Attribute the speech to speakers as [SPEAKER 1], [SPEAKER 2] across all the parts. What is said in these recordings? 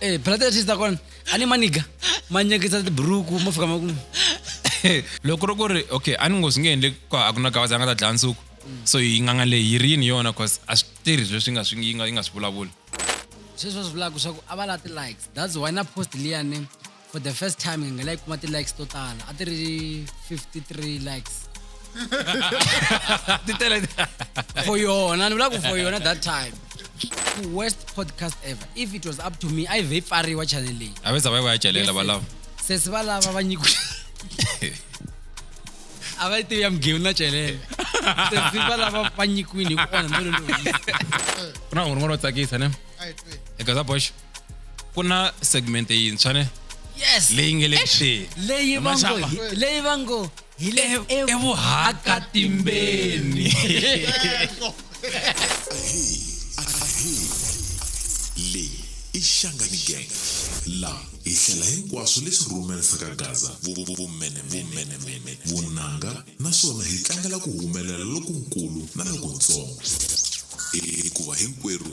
[SPEAKER 1] Eh, brother ya sister kwana a ni maniga ma nyekisa tiburuku ma fika ma ku
[SPEAKER 2] loko ri ku ri okay a ni ngo swi nge endle ku a ku na gavaza a nga ta dlaya nsuku so yi nganga leyi yi ri yini yona cause a swi tirhi leswi nga swi yi nga yi nga swi vulavuli sweswi va swi
[SPEAKER 1] vulaka swa ku a va la ti-likes that's why na post liyani for the first time hi nga like kuma ti-likes to tala a ti ri 53 likes ti tele for yona ni vula ku for yona that time worst podcast ever if it was up to me a yi vhe yi pfariwa channel leyi a ve za va yi va ya celela
[SPEAKER 2] valava sesi va lava
[SPEAKER 1] va nyiku a va yi tivi ya mugeu na celele sesi va lava va nyikiwini hi ku onha melo loyi ku
[SPEAKER 2] na un'wana wo tsakisa ne Ai, twe. eka za boxo ku na segment yintshwa ne yes leyi nge
[SPEAKER 1] le kuxeni
[SPEAKER 2] leyi va ngo hi-
[SPEAKER 1] leyi va ngo hi le evu- evuhakatimbeni
[SPEAKER 3] leyi i xangani gang laha hi hlela hinkwaswo leswi rhumerisaka gaza vumene vumene vumene vunanga naswona hi tlangela ku humelela lokunkulu na lokuntsongo hikuva hinkwerhu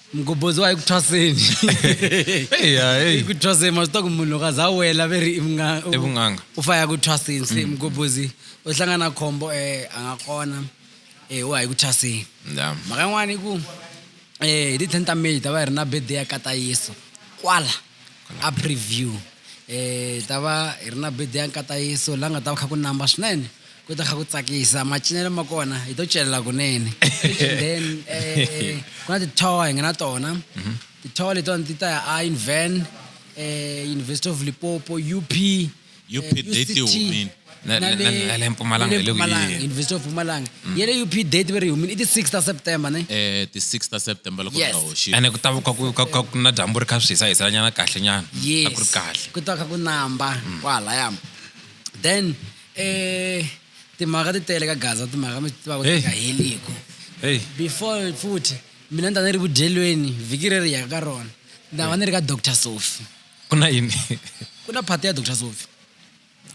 [SPEAKER 1] mugobhozi wa hi ku thwaseni hi ku thwaseni ma swi ta ku munhu loko a za wela ve ri ivun'anga u
[SPEAKER 2] fa ya ku thwaseni
[SPEAKER 1] se mm. mugobhozi u hlangana khombo um a nga kona um eh, wa hi ku thwaseni mhaka yin'wana i ku um hi ti-ten ta may ta va hi ri na birthday ya kata yesu kwala a preview um ta va hi ri na birthday ya nkata yesu la nga ta va kha ku namba swinene ku ta kha ku tsakisa macinelo ma kona hi to celela kunene then eh, ku na ti-tower hi nga na tona mhm. ti-tower letiwani ti ta ya a inven um eh, university of lipopo up
[SPEAKER 2] university of mpumalanga
[SPEAKER 1] mm. ye le up date ve ri humini i ti six ta september ne eh, ti six ta
[SPEAKER 4] september loko nga hoxi ene ku
[SPEAKER 2] ta ka ku na dyambu ri kha swi hisa hiselanyana kahle nyana a ku ri kahle ku ta kha ku namba
[SPEAKER 1] mm. kwahalaya then Eh, timhaka ti tele ka gaza timhaka mi tivaka ti nga heliku hey. before futhi mina ni ta ni ri vudyelweni vhiki ri ri yaka ka rona ni ta va ni ri ka doctor sofi ku na yini
[SPEAKER 2] ku na phati ya
[SPEAKER 1] doctor sofi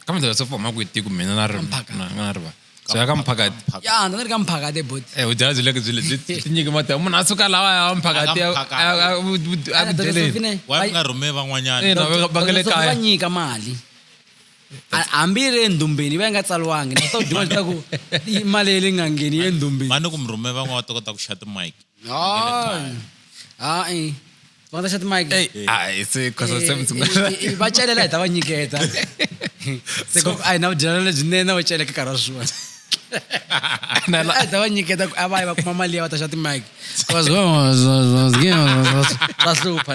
[SPEAKER 1] kambe doctor
[SPEAKER 2] sofi huma kwihi tiku mina na na riva so ya ka mphakati ya ni ri ka mphakati
[SPEAKER 1] eboti eh vudyela byi le byi le
[SPEAKER 2] byi nyike mati munhu a suka lawa ya mphakati ya vudyeleni wa nga rhume
[SPEAKER 4] van'wanyana eh, va nga le kaya va
[SPEAKER 2] nyika mali
[SPEAKER 1] hambi yi ri endhumbeni yi va yi nga tsaliwangi na swo duma leswaku mali leyi nga ngheni yi endhumbeni va ni ku murhume van'wana va
[SPEAKER 4] ta kota ku xa timike
[SPEAKER 1] hayi va nga ta xa
[SPEAKER 2] timike va celela hi ta
[SPEAKER 1] va nyiketa se ku a hi na vudyelana lebyinene va celeke nkarhi wa swona a ta va nyiketa ku a va yi va kuma mali ya va ta xa timike swa hlupha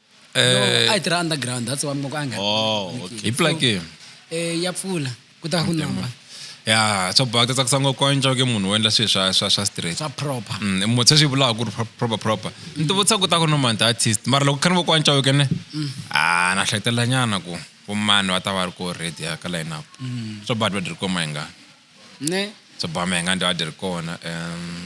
[SPEAKER 4] Eh, a yi
[SPEAKER 1] tirha underground that's why moko a nga Oh, okay. hi plaki
[SPEAKER 2] eh ya pfula
[SPEAKER 1] ku ta ku namba ya swa
[SPEAKER 2] baka tsakisa ngopfu ku antswa ke munhu wo endla swilo swa swa swa straight swa proper
[SPEAKER 1] Mm, motse swi vulaka ku
[SPEAKER 2] ri pro- proper proper ni ti vutisa ku ta ku no mani artist mara loko khani vo ku antswa wekene a na hleketelela nyana ku vomani va ta va ri ko ready ya ka line up swa badi va diri koma hi nga ne
[SPEAKER 1] swa bama hi nga ndi
[SPEAKER 2] va diri kona um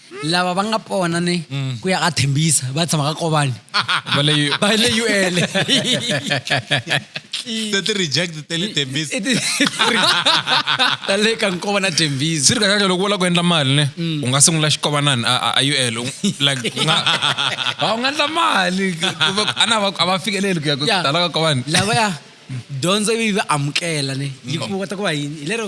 [SPEAKER 1] lava va nga pona ni mm. ku ya ka thembisa va tshama ka kovani va
[SPEAKER 2] le ul
[SPEAKER 4] ti-reject ta le thembisa
[SPEAKER 1] ta le ka nkova na thembisa swi ri kahle loko u lava ku endla
[SPEAKER 2] mali ne mm. u nga sungula xikovanani a ul like u nga u nga endla mali a na a va fikeleli ku ya ku tala ka kovani lavaya
[SPEAKER 1] dyondzo yi va amukela ne yi mm. kota ku va yini hi lero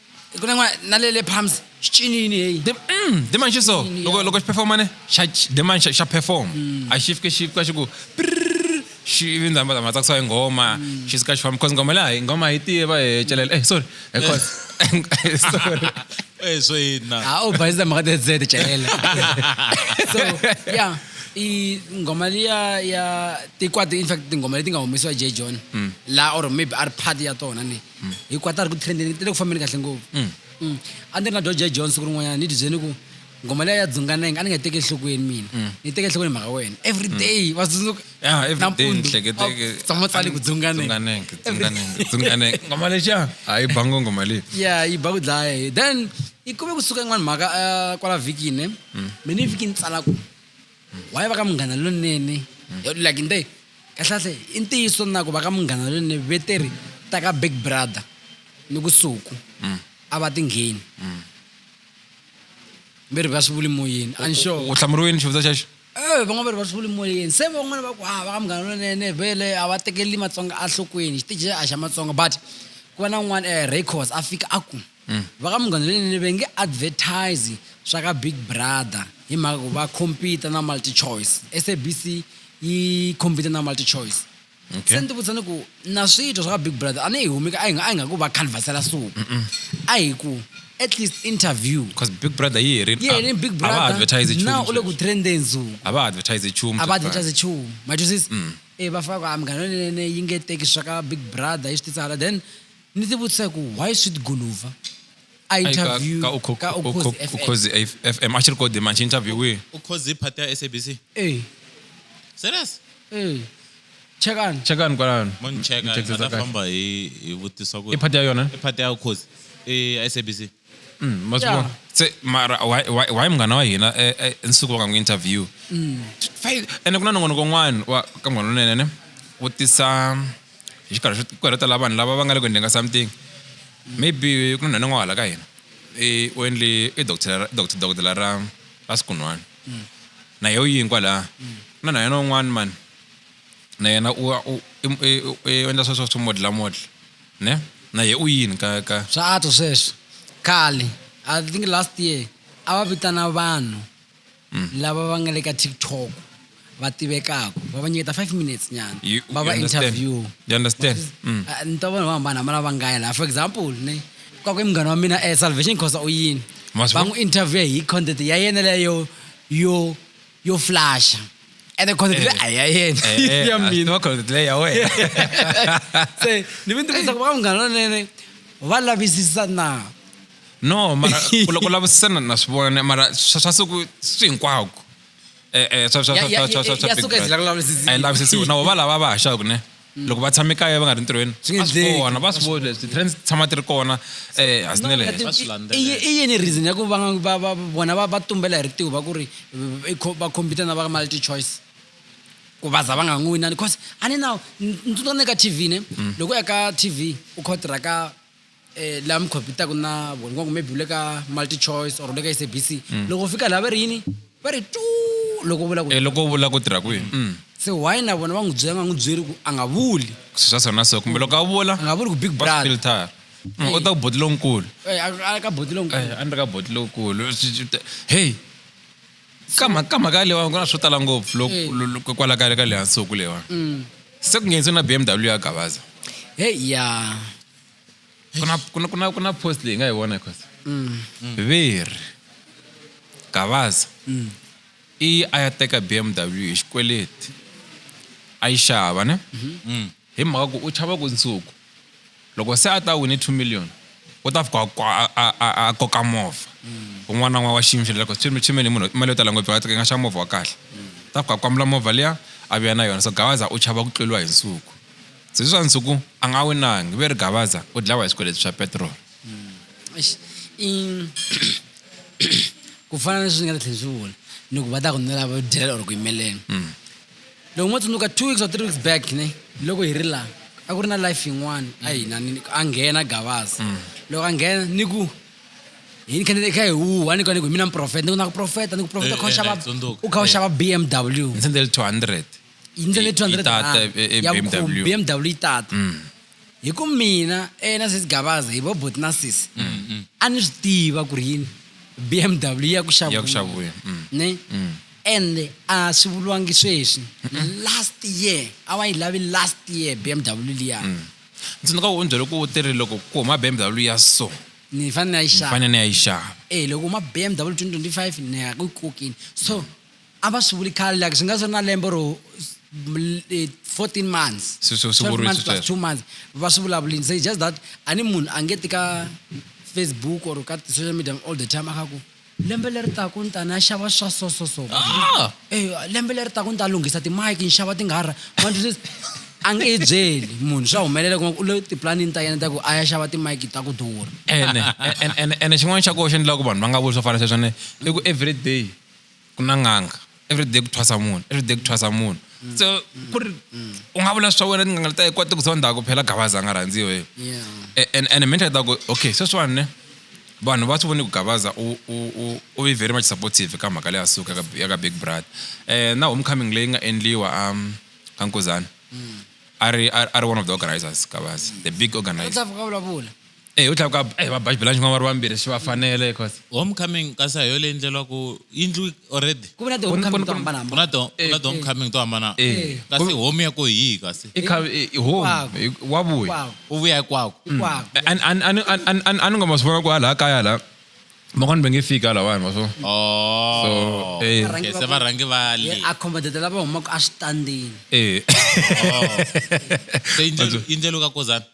[SPEAKER 1] ku na n'wana na le le palms xi cinini heyi Dem- mm, demon xi so
[SPEAKER 2] Yini, loko ya. loko xi performa ne xa ch- demon xa xa perform a xi fike xi fika xi ku prrrr, xi vi ndza ma ma tsakisa hi nghoma xi suka xi famba because nghoma leyi a hi nghoma a hi tiva hi celela eh sorry eh, cause sorry Eh, so
[SPEAKER 4] yini na ha u bayisa mhaka te zete
[SPEAKER 1] celela so ya i nghoma liya ya tikwati in fact tinghoma leti nga humesiwa j john la or maybe a ri part ya tona ni mm. hikuva ta ri ku trendeni ti le ku fambeni kahle ngopfu mm. Mm. a ndzi ri na george john siku rin'wanyana ni tibyeni ku ngoma leyi ya dzunganenge a ni nga teki enhlokweni mina ni teke enhlokweni mhaka wena every day va tsundzuka
[SPEAKER 2] nampundutshamatsali ku
[SPEAKER 1] dzunganengengoma
[SPEAKER 2] lexa a yi bango ngoma leyi ya yi ba ku dlaya
[SPEAKER 1] hi then yi kume kusuka yin'wana mhaka eh, kwala vhikini mina vhiki ni tsala ku Why va ka Munghana Lonene? Mm. Like nte, kahlahle, i ntiyiso na ku va ka Munghana Lonene veteri ta ka Big Brother ni ku Suku mm. a va tingheni. Mm. Veri va swi vuli moyeni. I'm sure. U hlamuriwe ni xivutiso xexo?
[SPEAKER 2] Eh, van'wana va ri va swi vuli
[SPEAKER 1] moyeni. Se van'wana va ku ha ah, va ka Munghana Lonene vele a va tekeli Matsonga a nhlokweni. Xitiji a xa Matsonga but ku va na un'wana eh, Raycos a fika a ku. Va ka Munghana Lonene va nge advertise swa ka Big Brother hi mhaka ku va compete na MultiChoice. SABC yi compete na MultiChoice. Se ni ti vutisa ni ku na swi twa swa ka Big Brother a ni hi humi ka a hi nga a hi nga ku va canvas-ela so. A hi ku at least interview. Cause Big Brother yi
[SPEAKER 2] herile. Yi herile Big Brother. A va ha
[SPEAKER 1] advertise nchumu sweswi. Now u le
[SPEAKER 2] ku trend-eni
[SPEAKER 1] ndzhuku. A va ha advertise nchumu.
[SPEAKER 2] A va advertise nchumu.
[SPEAKER 1] Ma twisisa? Ivi va fika va ku a Munghana Lonene yi nge teki swa ka Big Brother yi swi tisa hala then. ni ti vutisa ku why sweet guluva a interview ka ukhozi
[SPEAKER 2] fm a xi ri kode manje interview wihi ukhozi i phati ya
[SPEAKER 4] sabc eh serious eh
[SPEAKER 1] chekani chekani kwalano moni cheka
[SPEAKER 4] famba hi hi vutisa ku i phati ya yona i phati
[SPEAKER 2] ya ukhozi
[SPEAKER 4] i sabc Mm, ma swi
[SPEAKER 2] Yeah. vona se mara why- why why munghana wa hina eh, eh, nsuku va nga n'wi interview Mm. Fai- ene ku na nongonoko un'wana wa ka munghana lonene ne wo tisa hi xikarhi xo ku heletela vanhu lava va nga le ku endleni ka something maybe ku na nhwana n'wahala ka hina i u endle i doctor ra- doct- dokodela ra ra sikun'wana Mm. na yehe u yini kwalaha ku na na yena un'wana mani na yena u u- i- i- i- u endla sweswo swo modlamodla Ne? Na ye u yini ka ka Swa antswa sweswi.
[SPEAKER 1] Khale, I think last year, a va vitana vanhu lava va nga le ka TikTok va tivekaka va va nyiketa five minutes nyana You- va you va understand? interview. You understand? Mm.
[SPEAKER 2] Ah, Ni twa vanhu vo
[SPEAKER 1] hambana hambana va ngaya laha. For example, ne ka ku i munghana wa mina eh, Salvation Khosa u yini? Ma swi Va vona? n'wi interview hi content ya yena leyo yo yo flasha ene content leyi a hi ya yena Eh, ya a swi mina tiva content leyi ya wena se ni ve ni tivutisa ku va munghana lonene va lavisisa na no
[SPEAKER 2] mara ku loko lavisisana na swi vona mara swa swa siku swi hinkwako Eh, eh, swa- swa- Ya- swa- ya- swa- swa- ya- swa ya Big suka yi
[SPEAKER 1] Brother. zila ku lavisisiwa. a yi lavisisiwi na vo
[SPEAKER 2] va lava va haxaku ne Mm. loko va tshame kaya va nga ri ntirhweni swi nge endleki va swi vona leswi ti-trends tshama ti ri kona eh a swi i
[SPEAKER 1] yini reason ya ku va va va vona va va tumbela hi ritiho va ku ri va compete na va multi choice ku va za va nga n'wi winani because a ni na ni tsundzuka ni ka tv ne mm. loko ya ka tv u khotira ka eh, laha mi khompyutaku na vona va ku maybe u le ka multi choice or u le ka sabc Mm. loko u fika laha va ri yini va ri tu loko u vula ku Eh, loko u vula ku tirha kwihi
[SPEAKER 2] Mm. se why na
[SPEAKER 1] vona va n'wi byela va nga n'wi byeri ku a nga vuli swi swa sona so kumbe
[SPEAKER 2] loko a vula a nga vuli ku big brother
[SPEAKER 1] filter Mm, u
[SPEAKER 2] ta ku boti lonkulu Eh, a- a- ka boti
[SPEAKER 1] lonkulu Eh, a ni ri ka boti
[SPEAKER 2] lokulu hey ka mha- ka mhaka leyiwani ku na swo tala ngopfu lo- Eh. lo- lo- kwala ka ka lehansuku leyiwani Mm. se ku nghenise na bmw ya gavaza heyi ya
[SPEAKER 1] kuna, kuna, kuna,
[SPEAKER 2] kuna post leyi nga yi vona cos mm. veri gavaza mm. i a ya teka bmw hi xikweleti a yi xava ne mm-hmm. mm. hi mhaka ku u chava ku nsuku loko se a ta wini two million u ta fika a koka movha un'wana na un'wana wa xiyimo xeleloko chimeni munhu mali yo tala ngopfu a nga xa movha wa kahle ta fika a kwamula movha liya a vuya na yona so gawaza u chava ku tluriwa hi nsuku Ziswa Nsuku a nga winangi, Veri Gavaza u dlawa hi swikweleti swa petiroli. Eish, i-
[SPEAKER 1] ku fana na leswi ni nga ta tlhela ni swi vula ni ku va ta ku ni lava dyela or ku yimeleni loko mo tsundzuka two weeks or three weeks back ne loko hi ri laha a ku ri na life yin'wana a hi na ni- a nghena gavaza loko a nghena ni ku hi ni kha ni kha hi huha ni ku ni ku hi mina muprofeta ni ku na ku profeta ni ku profeta u kha u Eh, eh, xava na yi tsundzuka. u kha u Eh. xava bmw Ni sendele
[SPEAKER 2] 200. yi ndlela Yi- yi tata,
[SPEAKER 1] e- e- 200 ya BMW. vukhumbi bmw yi tata Mm. hi ku mina eh, na sis gabaza hi vobot na sis Mm, a ni swi tiva ku ri yini bmw ya ku ya ku xavuya xavuya Mm. ne Mm. ende a swi vuriwangi sweswi last year a wa yi lavi last year bmw liya Mm. tsundzuka u
[SPEAKER 2] byele ku u tirhi loko ku huma bmw ya so ni fanele na yi
[SPEAKER 1] xava fanele ni ya yi xava
[SPEAKER 2] e loko ma bmw
[SPEAKER 1] 2025 ni ya ku yi kokini so a va swi vuli khale like swi nga swi ri na lembe ro 14 eh, months Swi- swi- swi 12 vuriwile
[SPEAKER 2] months plus
[SPEAKER 1] sweswo. 2 months va swi vulavulini se it's just that a ni munhu a nge ti ka facebook or ka social media all the time a kha ku lembe leri taku ni ta ni ya xava swa so so so Ah! Eh, lembe leri taku ni ta lunghisa timike ni xava tinghara a nge yi byeli munhu swa humelela kuma ku u le tiplanini ta yena ta ku a ya xava timike ta ku durha ene ene- ene-
[SPEAKER 2] ene xin'wana xa koxa ni lava ku vanhu va nga vuli swo fana sweswo ne i ku every day ku na n'anga everyday ku thwasa munhu everyday ku thwasa munhu mm. so mm. ku ri mm. u nga vula swa wena tin'anga leta kota ku zonda ku phela gabaza a nga rhandziwa hi and and mental ta ku okay sweswiwani ne vanhu va swi voni ku gabaza u ve very much supportive ka mhaka leya suka ya ka big brother um na homecoming leyi nga endliwa um ka nkuzana a ri a ri one of the organizers gabaza the big organizer Eh, u tlhela ku eh, va baji belanji va ri vambirhi swi va fanele cause homecoming kasi a hi yo
[SPEAKER 4] leyi endleriwaka yindlu already ku na tihomecoming to hambanahambana
[SPEAKER 1] ku na to ku na tihomecoming
[SPEAKER 4] to hambana kasi home ya ko hi yihi kasi i kha i home
[SPEAKER 2] wa vuya u vuya hikwako a ni nga ma swi vona ku a laha kaya laha van'wani va nge fika lawani wa swo oh.
[SPEAKER 4] se va rhangi va le accommodate lava humaka
[SPEAKER 1] eswitandini
[SPEAKER 4] e se yindlelo ka kozana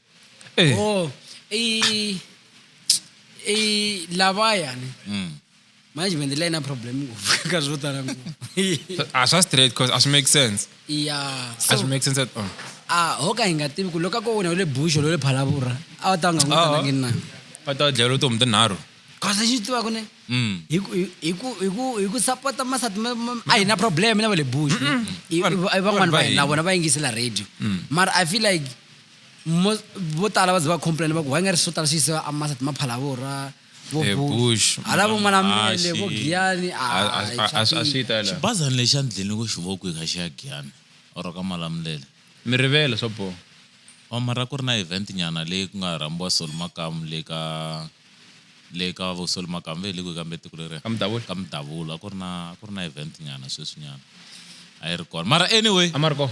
[SPEAKER 4] Eh. oh
[SPEAKER 1] i i lavayani Mm. management leyi na problem ngopfu ka swo tala ngopfu So, a
[SPEAKER 2] swa straight cause a swi make sense ya a swi make sense at all a ho ka hi
[SPEAKER 1] nga tivi ku loko a ko wena u le busho lo le phalavura a va ta va nga n'wi Ah. tanangi na va ta dlhela vutomi
[SPEAKER 2] tinharhu cause lexi ni tivaka
[SPEAKER 1] ne Mm. hi ku- hi- hi ku- hi ku- hi ku sapota masati ma- ma- a hi na problem na va le busho I- i- i- van'wani va hina na vona va yingisela radio mara i feel like Most, vo tala va ze va complain va ku why nga ri swo tala swi yisiwa amasat maphalavora vo Eh, Bush, Bush,
[SPEAKER 2] hala vo manamele
[SPEAKER 1] vo Mhashi. giyani A- a- a- a- a swi
[SPEAKER 2] ta la xibazana lexi a ni dlini ku
[SPEAKER 4] xi voku hi ka xi ya giyani or ka malamulele mi rivele swa
[SPEAKER 2] boha wa mara ku ri
[SPEAKER 4] na event nyana leyi ku nga rhambiwa soli makamu le ka le ka vo soli makamu ve hi le kwihi kambe tiko leriya Ka Mudavula? ka mudavula a ku ri na a ku ri na event nyana sweswi nyana a yi ri kona mara anyway a ma ri kona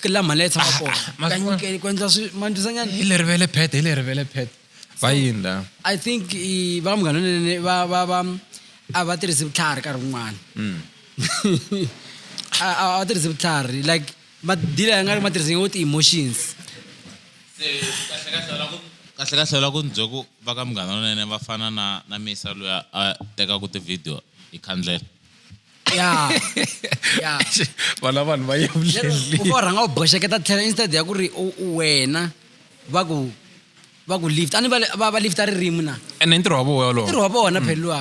[SPEAKER 1] ke la mali tshama ah, kona ah, kanyukeli ku endla swi ma ndlisa nyana hi le rivele phete hi le
[SPEAKER 2] rivele phete va yini la i think
[SPEAKER 1] va munghana nene va va va a va tirhisi vutlhari nkarhi wun'wana hmm. a va tirhisi vutlhari like madila ya nga ri ma tirhisi wo ti-emotions
[SPEAKER 4] kahle kahle la ku ni bye ku va ka munghana lonene va fana na na misa loyi a tekaka ti-video hi khandlela ya
[SPEAKER 1] ya
[SPEAKER 2] vana vanhu va lero u va rhanga u boxeketa
[SPEAKER 1] tlhela instead ya ku ri u- u wena va ku va ku lift a ni va le- va va lifta ririmi na ene i ntirho wa voho
[SPEAKER 2] ntirho wolowo wa vona phela luwa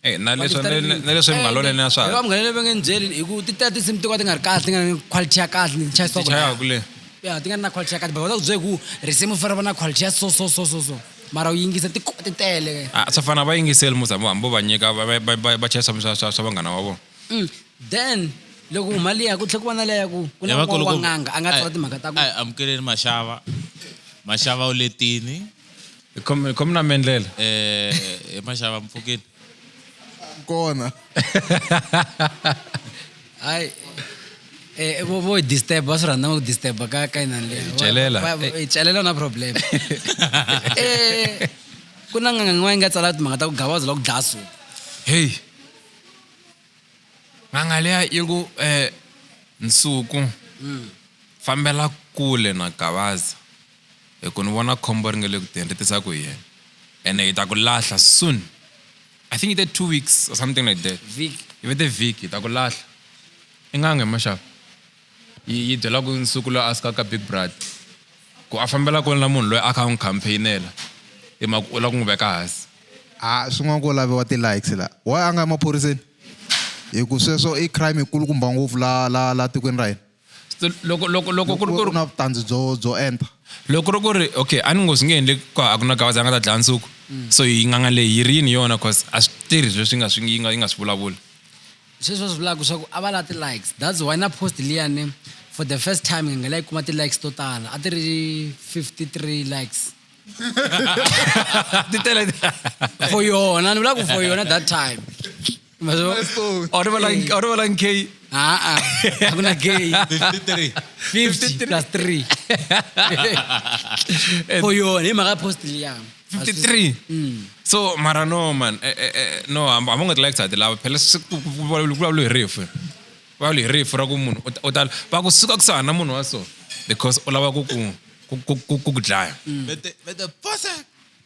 [SPEAKER 1] Eh, na leswi
[SPEAKER 2] na- na- na leswi mungalonene na swa mungalonene va nge ni byeli hi
[SPEAKER 1] ku ti tela tinsimu to ka ti nga ri kahle ti nga ri ni quality ya kahle ni chayisaka tichayaka le ya
[SPEAKER 2] ti nga ri na quality
[SPEAKER 1] ya kahle but va ta ku byela hi ku risimu fanele va na quality ya so so so so so mara u yingisa ti ti tele ah, swa fana va yingiseli
[SPEAKER 2] musa hambo va nyika va chela swa vanghana wa vona mm, then
[SPEAKER 1] loko huma liya ku tlhe ku va na leya ku ku na wa n'anga a nga tsala timhaka ta ku amukeleni maxava
[SPEAKER 4] maxava u letini
[SPEAKER 2] khomi na mendlela um eh, eh,
[SPEAKER 4] maxava mpfukeni
[SPEAKER 5] Kona.
[SPEAKER 1] hayi eh vo vo hi disturb va swi rhandza va ku disturb ka ka inani leyi Hi celela. Va- va- hi celela na problem eh ku na nganga yin'wana yi nga tsala timhaka ta ku gabaza la ku dlaya suku heyi
[SPEAKER 2] n'anga leya yi ku um nsuku fambela kule na gabaza hi ku ni vona khombo ri nga le ku teni ri tisa ku yini ene hi ta ku lahla soon i think i te two weeks or something like that vhiki yi ve te vhiki
[SPEAKER 1] hi ta
[SPEAKER 2] ku lahla i nganga hi maxaku yi yi byela ku nsuku loyi a suka ka big brother ku a fambela kule na munhu loyi a kha a n'wi campaignela hi mhaka u lava ku n'wi veka hansi a swin'wana ko
[SPEAKER 5] laviwa ti-likes la why a nga ya maphoriseni hi ku sweswo i crime yi kulukumba ngopfu la la la tikweni ra hina So, loko
[SPEAKER 2] loko loko ku ri ku ri na vutandzi byo byo
[SPEAKER 5] enta loko ku ri ku ri
[SPEAKER 2] okay a ni ngo swi nge endle ku a ku na gawaza a nga ta dlaya nsuku mm. so yi nganga leyi yi rini yona cause a swi tirhi leswi yi nga swi yi nga yi nga swi vulavula sweswi va swi
[SPEAKER 1] vulaka swa ku a va la ti-likes that's why na post liyani for the first time nge ngela yi kuma ti-likes to tala a ti ri 53 likes ti tele for yona ni vula ku for yona that time Mas eu, olha o
[SPEAKER 2] Alan, olha o Alan Kay. Ah, ah. Ako
[SPEAKER 1] na gay. 53. 50 plus 3. For you, ni maka post liya. 53. Mm.
[SPEAKER 2] So, mara no man. Eh, eh, eh, no, I'm, I'm not like that. Lava phela sikulawula refu. Kulawula refu ra ku munhu u ta va ku suka ku sahana munhu wa so because u lava ku ku ku ku ku dlaya. Vete vete
[SPEAKER 4] posa.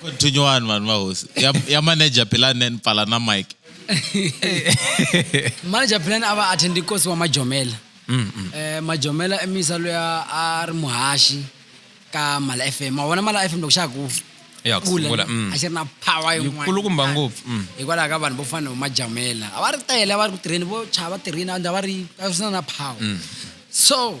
[SPEAKER 4] continue on vanhu vahosi ya, ya manager philani and pfala na mike
[SPEAKER 1] manager philani a va athendi kosi wa majomela mm, mm. eh, majomela emisa loyi a ri muhaxi ka mala f m ma vona mala f m loko xa ku kula
[SPEAKER 2] mm. a xi ri na power
[SPEAKER 1] yin'wanakulukumba ngopfu mm.
[SPEAKER 2] hikwalaho ka vanhu vo
[SPEAKER 1] fana vo majamela a va ri tele a va ri ku tirheni vo chava tirhini a va ri a swi na na power mm. so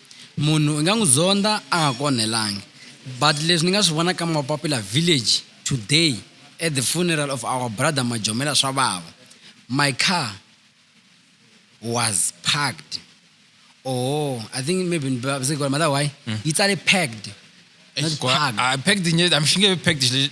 [SPEAKER 1] Munhu i nga n'wi zondha a nga ku onhelangi, but leswi ni nga swi vona ka Mapapila Village today at the funeral of our brother Majomela swa vava. My car was parked or I think maybe ni vavise ku mother why yi tsale packed not Kwa-
[SPEAKER 2] parked. a
[SPEAKER 1] packed nye-
[SPEAKER 2] a xi nge
[SPEAKER 1] vi packed xi-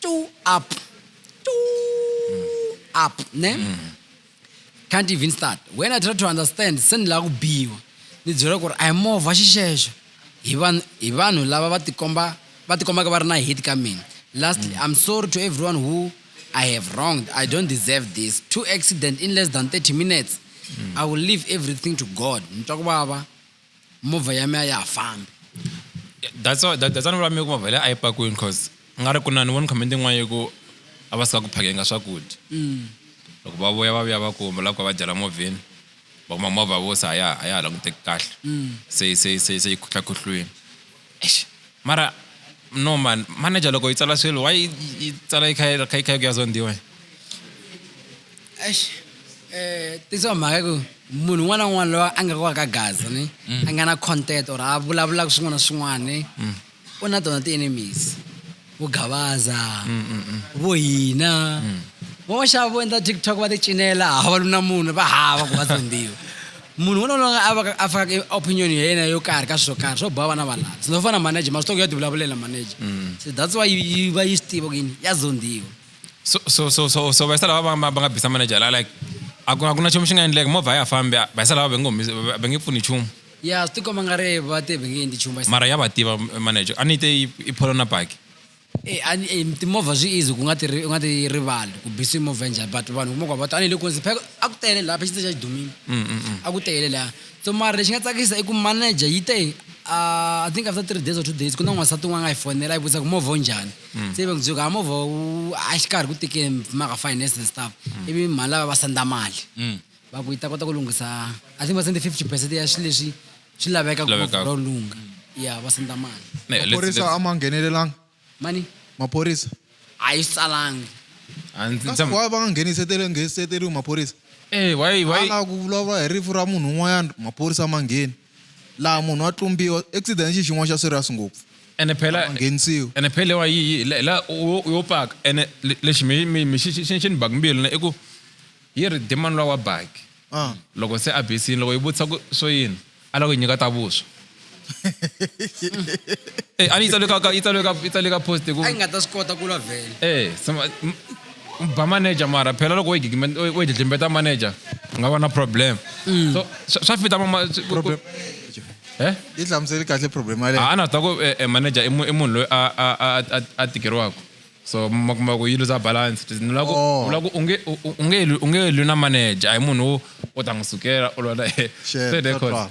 [SPEAKER 1] tu up tu up ne can't even start when i try to understand se ni lava ku biwa ni byela ku ri a hi movha xixexo hi vanhu hi vanhu lava va tikomba va tikombaka va ri na hate ka mina lastly i'm sorry to everyone who i have wronged i don't deserve this two accident in less than 30 minutes i will leave everything to god ni twa ku vava movha ya mi a ya ha fambi
[SPEAKER 2] that's why that, that's why ni ku mavhele a yi pakiwini because nga ri ku na ni voni comment yin'wana yi ku a va suka ku phakeni ka swakudya mm. loko va vuya va vuya va kuma lava ku va dyela movheni va kuma movha vo se a ya a ya ha languteki kahle mm. se se se se yi khutlakhutlwini Eish mara no man manager loko yi tsala swilo why yi tsala yi kha yi kha yi kha yi ku ya zondiwa eish
[SPEAKER 1] eh tisa mhaka ku munhu un'wana na un'wana loyi a nga kwaka gaza ni a nga na content or a vulavulaka swin'wana na swin'wana ni u na tona ti-enemies vo gavaza vo hina van'waxava vo endla tiktok va ti cinela hava lu na munhu va hava ku va tsondiwa munhu wona loyi a vaka a faka opinion ya yena yo karhi ka swilo karhi swo boha vana va laha sino fana manager masitoko ya tivulavulela manager se that's why yi va yi swi tiva ku yini ya zondiwa so so so
[SPEAKER 2] so so vayisa lava va va nga bisa manager la like a ku a ku na nchumu xi nga endleka movha a ya fambi vayisa lava va nge va nge pfuni nchumu ya swi tikomba nga
[SPEAKER 1] ri va ti vhengeni ti chumba mara ya va tiva
[SPEAKER 2] manager a ni te i pholo na baki e a ni e,
[SPEAKER 1] timovha swi easy ku nga ti ri- u nga ti rivali ku bisiwa movha njhani but vanhu kuma ku va ta a ni le kunzi phela a ku tele laha phexitse xa xidumile a ku tele laha so mara lexi nga tsakisa i ku manager yi te ah, i think after three days or two days ku na n'wansati un'wana a nga yi fonela yi vutisa ku movha wu njhani se yi va ndzuka a movha wu a xi karhi ku tikeni mhaka finance and stuff ivi mhani lava va senda mali va ku yi ta kota ku lunghisa i think va sende fifty percent ya swilo leswi swi laveka ku Lavekaka. movha wu lungha ya va senda mali Ne, let's- maphorisa let's- a ma
[SPEAKER 5] nghenelelanga mani
[SPEAKER 1] maphorisa
[SPEAKER 5] a yi swi
[SPEAKER 1] tsalangi a ndzi- kasi ndzi-
[SPEAKER 5] why va nga nghenisetele ngheniseteriwi maphorisa Eh, why- why- ala
[SPEAKER 2] ku vulavula
[SPEAKER 5] hi rifu ra munhu un'wanyana maphorisa ma ngheni laha munhu wa tlumbiwa accident xi xin'wana xa serious ngopfu ene phela Ma
[SPEAKER 2] nghenisiwi. ene phela
[SPEAKER 5] wa yi yi-
[SPEAKER 2] la- la u- u yo paka ene le- lexi mi mi mi xi xi xi ni baka mbilu na i ku Yi ri, Demon lowa wa baki, loko se a besini, loko yi vutisa ku, Swo yini? A lava ku yi nyika ta vuswa. E, a ni yi tsaliwe ka, ka, yi tsaliwe ka, yi tsaliwe ka post ku. A yi nga ta swi kota ku lwa
[SPEAKER 1] vhele. E, sima,
[SPEAKER 2] ba manager mara phela loko wo yi gigime, wo yi dlidlimbeta manager, u nga va na problem. So, swa, swa fita mama, ku, ku, Problem. He?
[SPEAKER 5] Yi hlamuseli kahle problem yaleyo. A, a na swi tiva ku, e, e
[SPEAKER 2] manager i mu, i munhu loyi a, a, a, a, a tikeriwaka. so ma kuma ku yi luza balance It is- ni lava ku- Oh. ni lava ku u nge- u- u- u nge lwi- u nge lwi na manager a hi munhu wo u ta n'wi sukela u lwa na yena. Shit, Se de swa kona. twala.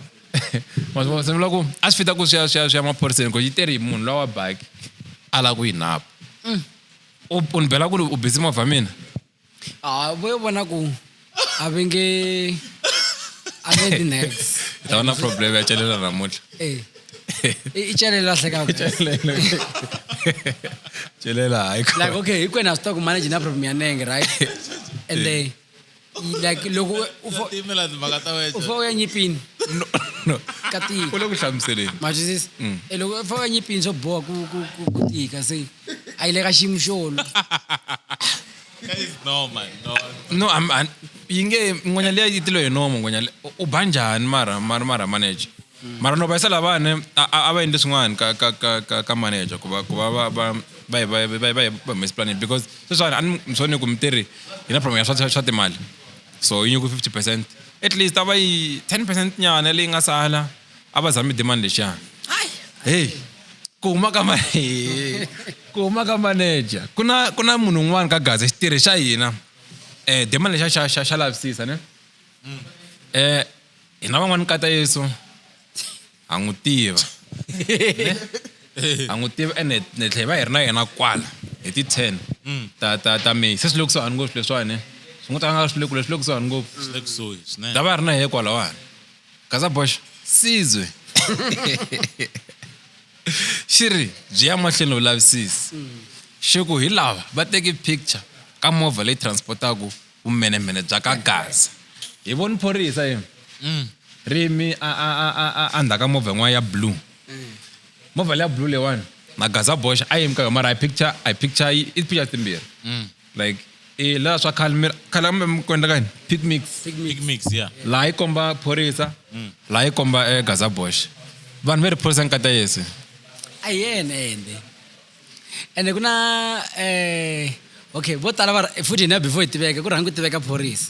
[SPEAKER 2] Ma swi vona? Se ni lava ku a swi fita ku swi ya- swi ya swi ya maphoriseni ku yi teri hi munhu lowa wa baki a lava ku yi napa u u ni bela ku ri u busy movha mina Ah, vo
[SPEAKER 1] yo vona ku a ve nge a nge ti next u ta va na problem ya
[SPEAKER 2] celela namuntlha Eh.
[SPEAKER 1] i i celelo a hlekaka
[SPEAKER 2] celela hayi ko like okay hinkwenu ha swi tiva ku
[SPEAKER 1] manage na problem ya nenge right and then i- like loko u- u fo- timela timhaka
[SPEAKER 4] ta u fo u ya nyipini
[SPEAKER 1] no no
[SPEAKER 2] ka tika u le
[SPEAKER 1] ku hlamuseleni
[SPEAKER 2] matwisisa e
[SPEAKER 1] loko u fo u ya nyipini swo boha ku ku- ku- ku tika se I like a ximuxolo Guys,
[SPEAKER 4] no man, no. no I'm- I'm-
[SPEAKER 2] yi nge ngwenya liya yi tilo hi nomo ngwenya le- u- u ba njhani mara mara mara manager mara no vayisa lavane a a- a va endli swin'wana ka ka ka ka ka manager ku va ku va va va va hi- va hi- va hi- va hi- va humesi plan because sweswiwani a ni mi sone ku mitirhi hi na problem ya swa swa- swa timali so yi nyiku fifty percent at least a va yi ten percent nyana leyi nga sala a va zami demand lexana heyi ku huma ka ma ku huma ka manager ku na ku na munhu un'wana ka gaza xitirhi xa hina um demand lexa xa xa xa lavisisa ne um hina van'wani kata yesu ha n'wi tiva ha n'wi tiva ene ni tlhe hi va hi ri na yena kwala hi ti-ten mm. ta ta ta may se swi le kusuhani ngopfu leswiwani swi n'wi ta nga swi le kule swi le kusuhani ngopfu ta va
[SPEAKER 4] ri na yehe kwalawani
[SPEAKER 2] gaza bosh sizwe xi ri byi ya mahlweni vulavisisi xi ku hi lava va teki picture ka movha leyi transportaku vumenemene bya ka gaza hi voni phorisa yini mm. ri yimi endzhaku ka movha yin'wana ya blue movha leya blue leyiwani na gaza bosh a yimi ka yona mara a hi picture a hi picture i picture timbirhi mm. like eh la swa khale mi khale kambe mi ku endla ka yini pick mix big mix ya laha yi komba phorisa laha yi komba eh, gaza bosh vanhu ve ri phorisa nkata yesu a hi yena
[SPEAKER 1] ende ende ku na um okay vo tala va ra- futhi hina before hi tiveka ku rhangi ku tiveka phorisa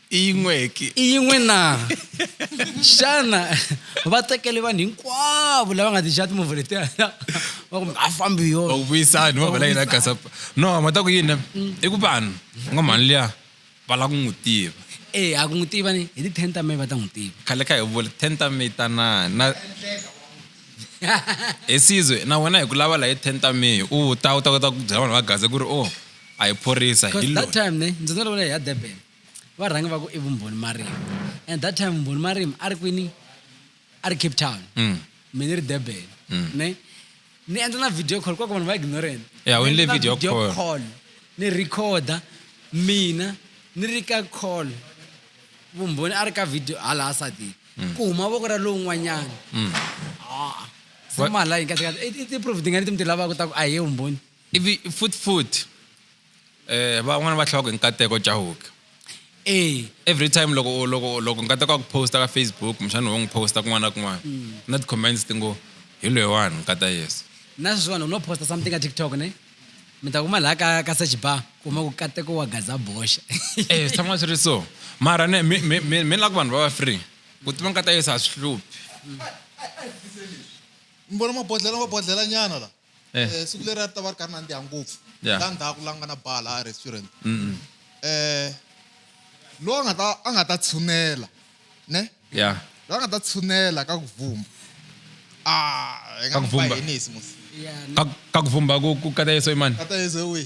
[SPEAKER 1] i yin'weki
[SPEAKER 2] i yin'we
[SPEAKER 1] na xana va tekele vanhu hinkwavo lava nga tixa timovha letiya va ku a fambi yo va ku vuyisani va vala yina
[SPEAKER 2] gasa no ma ta ku yini i ku vanhu nga mhani liya va lava ku n'wi tiva e a ku n'wi tiva
[SPEAKER 1] ni hi ti-ten ta may va ta n'wi tiva khale kha hi vula ten
[SPEAKER 2] ta may tanani na hi sizwe na wena hi ku lava laha hi ten ta may u ta u ta kota ku byela vanhu va gaza ku ri o oh, a hi phorisa hi that time ne ndzi nga
[SPEAKER 1] lava hi ya durban va rhangi va ku i vumbhoni marimi and that time vumbhoni marimi a ri kwini a ri cape town mm. mi ni ri durban mm. ne ni endla na video call kwako vanhu va ignorant yeah, ni video, video call.
[SPEAKER 2] call ni recorda
[SPEAKER 1] mina ni ri ka call vumbhoni a ri ka video hala asatini mm. ku huma voko ra lowun'wanyana mm. ah, se mala yi kahlekahle i ti-proof tingani ti mi ti lavaka ta ku a hi ye vumbhoni ivi foot
[SPEAKER 2] foot Eh van'wana va hlawaka nkateko Chauke. Eh. Every time loko loko loko nkateko wa ku posta ka Facebook mshana wo n'wi posta kun'wana na kun'wana mm. na ti comments ti ngo hi loyi wani nkata Yesu. Na sweswiwani u no
[SPEAKER 1] posta something ka TikTok ne mi ta kuma laha ka ka search bar kuma ku kateko wa gaza boxa. Eh swi tshama swi
[SPEAKER 2] ri so mara ne mi mi mi mi la ku vanhu va va free ku tiva nkata Yesu a swi hluphi.
[SPEAKER 5] Mi vona mabodlhela mabodlhela nyana la. Eh. Eh, siku leri a ri ta va ri kha ri nandziha ngopfu Yeah. la ndzhaku la nga na bar la a restaurant um loyi a nga ta a nga ta tshunela ne ya loyi a
[SPEAKER 2] nga ta tshunela
[SPEAKER 5] ka ku vumba a hi nga Ka ku n'wi vumba. bahenisi mos Yeah. ka ka ku
[SPEAKER 2] vumba ku ku kata yeso imani kata yezo wihi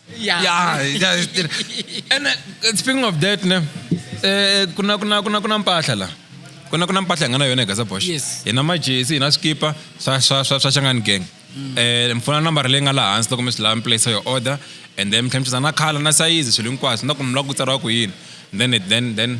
[SPEAKER 5] Yeah. Yeah, yeah,
[SPEAKER 2] yeah. and uh, speaking of that ne eh kuna kuna kuna kuna mpahla la kuna kuna mpahla ngana yona gaza bosh Yes. ina majesi ina skipa swa swa swa swa changan gang eh mfuna number leyi nga laha hansi loko mi swi lava mi place your order and then mtlhemthiza na khala na sayizi swilo hinkwaswo na ku mi lava ku tsariwa ku yini then it- then then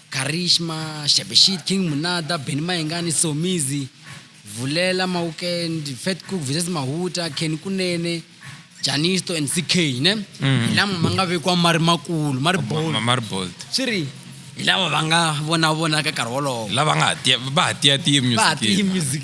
[SPEAKER 1] Karishma, Shabeshit, King Munada, Benny Mayengani, Somizi, Vulela, Mawukend, Fat Cook versus Mahuta, Kenny Kunene, Janisto and CK ne. Mm. Hi lama ma nga vekiwa ma ri makulu, ma ri bold. Ma ri bold. Swi ri hi lava va nga vona vona ka nkarhi wolowo. Lava nga ha tiya va ha
[SPEAKER 2] tiya tiya music. Va ha tiya music.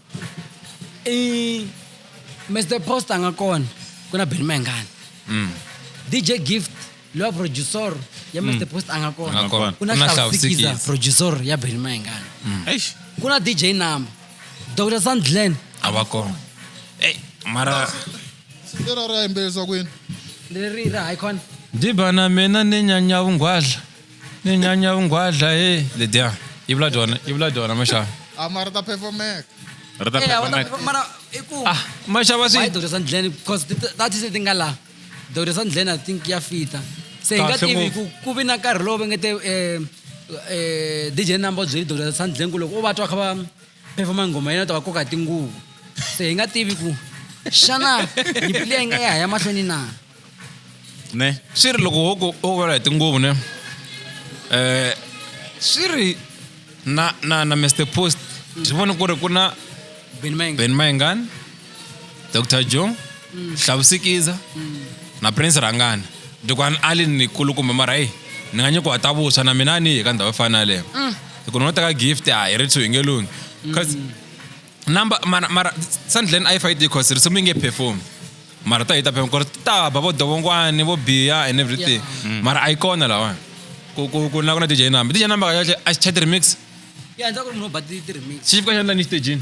[SPEAKER 4] i
[SPEAKER 1] mr post a nga kona ku na beni mayingani mm. dj gift lowa producer ya mr mm. post a nga kona ku na hlawusikiza producer ya beni mayingani mm. ku na
[SPEAKER 4] dj number
[SPEAKER 1] dr sandlen a va kona
[SPEAKER 2] ey mara
[SPEAKER 5] lerara yimbelerisa kwini leri ra hayi
[SPEAKER 1] khona dibana mina
[SPEAKER 2] ni nyanya vunghwadla Ni nyanya vungwadla he ledya yi vula dyona yi vula dyona maxava a mara ta phefomeka
[SPEAKER 5] ri ta Eh, a wu ta-
[SPEAKER 4] phefomeka mara
[SPEAKER 1] i ku ah maxava swi
[SPEAKER 2] wayidoda swa ndlheni
[SPEAKER 1] because
[SPEAKER 2] ti-
[SPEAKER 1] ta tise ti nga laha doda swa ndlheni i think ya fita se hi nga Kahle tivi ngopfu. ku ku vi na nkarhi lowu va nge te um dj number u byeli doda swa ndlheni ku loko u va twa kha va performa nghoma yena ta va koka tinguvu se hi nga tivi ku xana nyipili ya yi nga ya ha ya mahlweni na ne
[SPEAKER 4] swi ri loko hoku
[SPEAKER 2] o vula hi tinguvu ne um swi ri na na na mr post byi vone ku ri ku na ben mayengani dr jo hlavusikiza na prince rhangana dukwana ali ni kulukumba mara eyi ni nga nyikiwa ta vuswa na mina a ni yi ka ndhawu yo fana na yaleyo hi ku ni ngo teka gift a hi ri two hi nge lunghi cause number mara mara sandlen a yi fa yi tiyi cause risimu yi nge perform mara ta yi ta perform cause ta ba vo dovongwani vo biya and everything mara a yi kona lawani ku ku ku na ku na dj number dj number kahle a xi chat remix ya ndza ku ri munhu u
[SPEAKER 1] ba ti ti remix xi fika xandla ni xitejini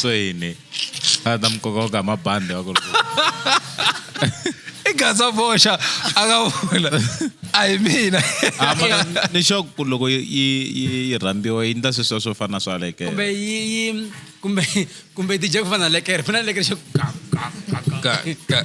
[SPEAKER 4] so yini a ta mi kokoka hi mabandi wa ku ri i
[SPEAKER 2] gaza boxa a nga vula a hi mina Ah, mara
[SPEAKER 4] ni sure ku loko yi yi- yi yi rhambiwa yi ndla sweswiya swo fana na swa leke kumbe yi yi kumbe
[SPEAKER 1] kumbe dj ku fana na lekere fana na lekere xo Ka- ka-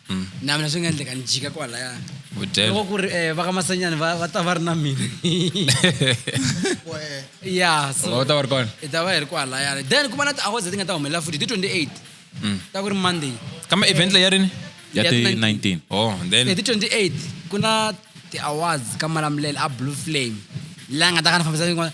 [SPEAKER 1] mm. na mina swi nga endleka ni jika kwalaya loko ku ri um eh, vakamasanyani va va ta va ri na mina ya so ta va ri kona hi ta va hi
[SPEAKER 2] ri kwalayana
[SPEAKER 1] then kuma na ti-awards leti nga ta humelela futhi ti 28 mm. ta ku ri monday kama event leyi ya rini
[SPEAKER 2] ya ti
[SPEAKER 4] 19 oh then hi ti 28
[SPEAKER 1] ku na ti-awards ka malamulele a blue flame laha nga ta ka ni fambisa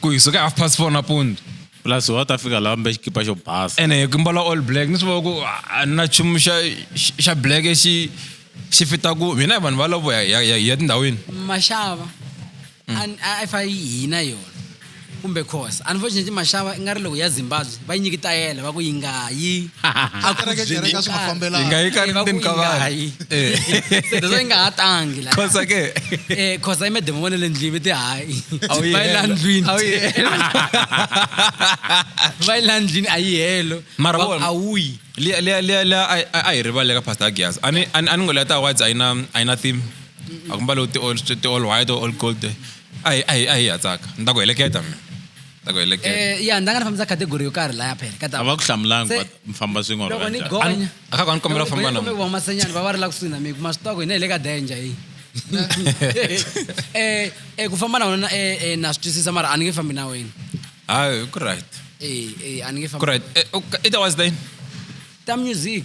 [SPEAKER 2] ku hi suka half past four napundu plus wa ta fika
[SPEAKER 4] laha mbe xikipa xo basa ene hi ku mbala all black
[SPEAKER 2] ni swi vona ku a ni na chumu xa xa black xi xi fita ku hina hi vanhu va lovo ya
[SPEAKER 1] ya
[SPEAKER 2] tindhawini maxava mm.
[SPEAKER 1] a fa hina yona kumbe khosa unfortunately maxava i nga ri loko ya zimbabwe va yi nyikitayela va ku yi nga yi a ku Kereke- kereke a
[SPEAKER 5] swi nga fambelani. Yi nga yi ka Eh, va ku ndzeni
[SPEAKER 2] ka
[SPEAKER 5] yi nga
[SPEAKER 2] vanhu. yi. Eh. Se
[SPEAKER 1] leswo yi nga ha tangi la Khosa ke.
[SPEAKER 2] Eh, khosa yi mademo
[SPEAKER 1] vona le ndlwini va ti hayi A wu yi va yi la helo.
[SPEAKER 2] ndlwini A wu yi
[SPEAKER 1] helo. va yi la ndlwini a yi helo Mara Va ku, vona- a wu yi
[SPEAKER 2] liya
[SPEAKER 1] liya liya liya a-
[SPEAKER 2] a- a hi rivale ka pastor agias a ni a ni- a ni ngo liya ta awards a yi na a yi na theme a ku mbalo ti all ti all white or all gold a hi a hi a hi ya tsaka ni ta ku heleketa mina ta ku heleketa Eh, ya ndza nga ni fambisa category
[SPEAKER 1] yo karhi laya phela ka a va ku hlamulanga Se-
[SPEAKER 4] va mi famba swin'we or
[SPEAKER 1] loko
[SPEAKER 4] va ni njhani. gonya a ka
[SPEAKER 1] ku a ni
[SPEAKER 4] kombela ku
[SPEAKER 1] famba
[SPEAKER 2] na n'wina. va masenyana va va ri la
[SPEAKER 1] kusuhi na mina ma swi tiva ku hina hi le ka danger hi eh eh ku famba na wena eh eh, na swi twisisa mara a ni nge fambi na wena hayi ku
[SPEAKER 2] right eh eh a ni nge ku
[SPEAKER 1] fambi right Eh, okay, it
[SPEAKER 2] was then ta
[SPEAKER 1] music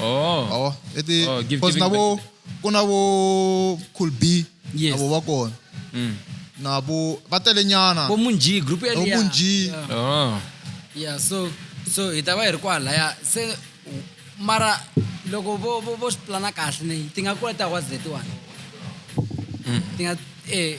[SPEAKER 5] oh awa
[SPEAKER 2] i ti Oh, give-
[SPEAKER 5] because giving na back. vo ku na
[SPEAKER 2] vo
[SPEAKER 5] cool b Yes. avo va kona
[SPEAKER 1] Mm.
[SPEAKER 5] na vo va tele nyana vo munji group ya vo liya.
[SPEAKER 1] munji Yeah.
[SPEAKER 5] oh
[SPEAKER 2] yeah so
[SPEAKER 1] so hi ta va hi ri kwalaya se mara loko vo vo vo swi plana kahle ni ti nga kula ta wa z one ti nga eh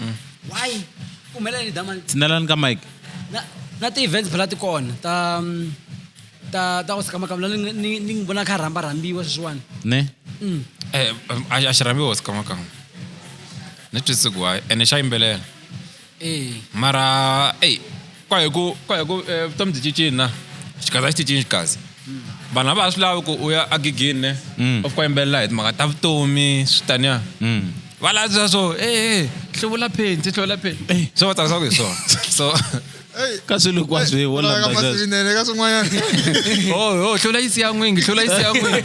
[SPEAKER 1] mm. why ku humelela ni damani tshinelani ka mike
[SPEAKER 4] na na ti-events
[SPEAKER 1] phela ti kona ta mm, ta ta ku sikamakama ni ni vona kha rhamba rhambiwa sweswiwani ne mm.
[SPEAKER 4] eh,
[SPEAKER 2] a xi rhambiwa sikamakama ni twisisi ku hayi ene xa yimbelela eh. mara eyi kwaye ku kwaye ku eh, vutomi byi cincini na xikazi a xi cincini xikazi vanhu a va ha swi lavi ku u ya agigini ne mm. of ku yimbelela hi timhaka ta vutomi swi taniya mm. va lavisisa swo e eh, eh, hluvula phenti hluvula phenti swo va tsakisa ku hi swona so ka
[SPEAKER 4] swilo kwa swi vonaasinene ka
[SPEAKER 5] swin'wanyana o o
[SPEAKER 2] hlula yi siya n'wingi hlula yi siya n'wingi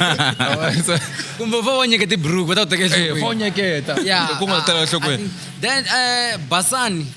[SPEAKER 1] kumbe fa wa nyeketa tiburuku va ta ku teka fa wa nyeketa
[SPEAKER 2] ku nga tela
[SPEAKER 1] enhlokweni
[SPEAKER 2] then um
[SPEAKER 1] basani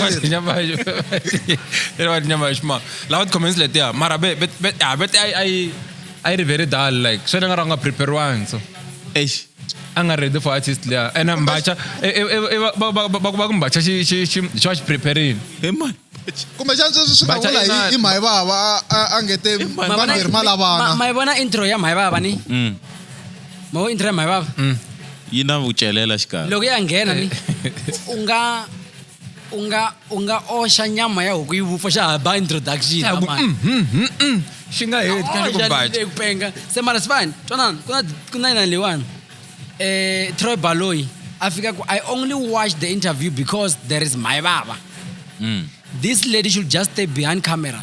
[SPEAKER 5] Wati nyama yo. Ere wati
[SPEAKER 2] nyama yo shma. La wati comments le tia. Mara be be be ah be ai ai ai re very dull like. So nga ranga prepare one so. Eish.
[SPEAKER 4] Anga ready
[SPEAKER 2] for artist le. Ena mbacha. E e e ba ba ba ba mbacha shi shi shi shi preparing. Hey man. kumbe xana sweswi swi nga Bacha
[SPEAKER 5] vula inani. hi i mhayivava a- a a ngete vanhu hi ri malavana mayivona intro ya
[SPEAKER 1] mhayivava ni ma vo internet mhayi vava mm. yi na
[SPEAKER 4] vucelela xikarhi loko ya nghena ni
[SPEAKER 1] u nga u nga u nga oxa nyama ya huku yi vupfa xa ha ba introduction mm, mm, mm,
[SPEAKER 2] xi nga heti kanti ku baxa ku penga se mara
[SPEAKER 1] sivani twanana ku na ku na yinani leyiwani eh Troy Baloyi a fika ku I only watch the interview because there is my baba mm. this lady should just stay behind camera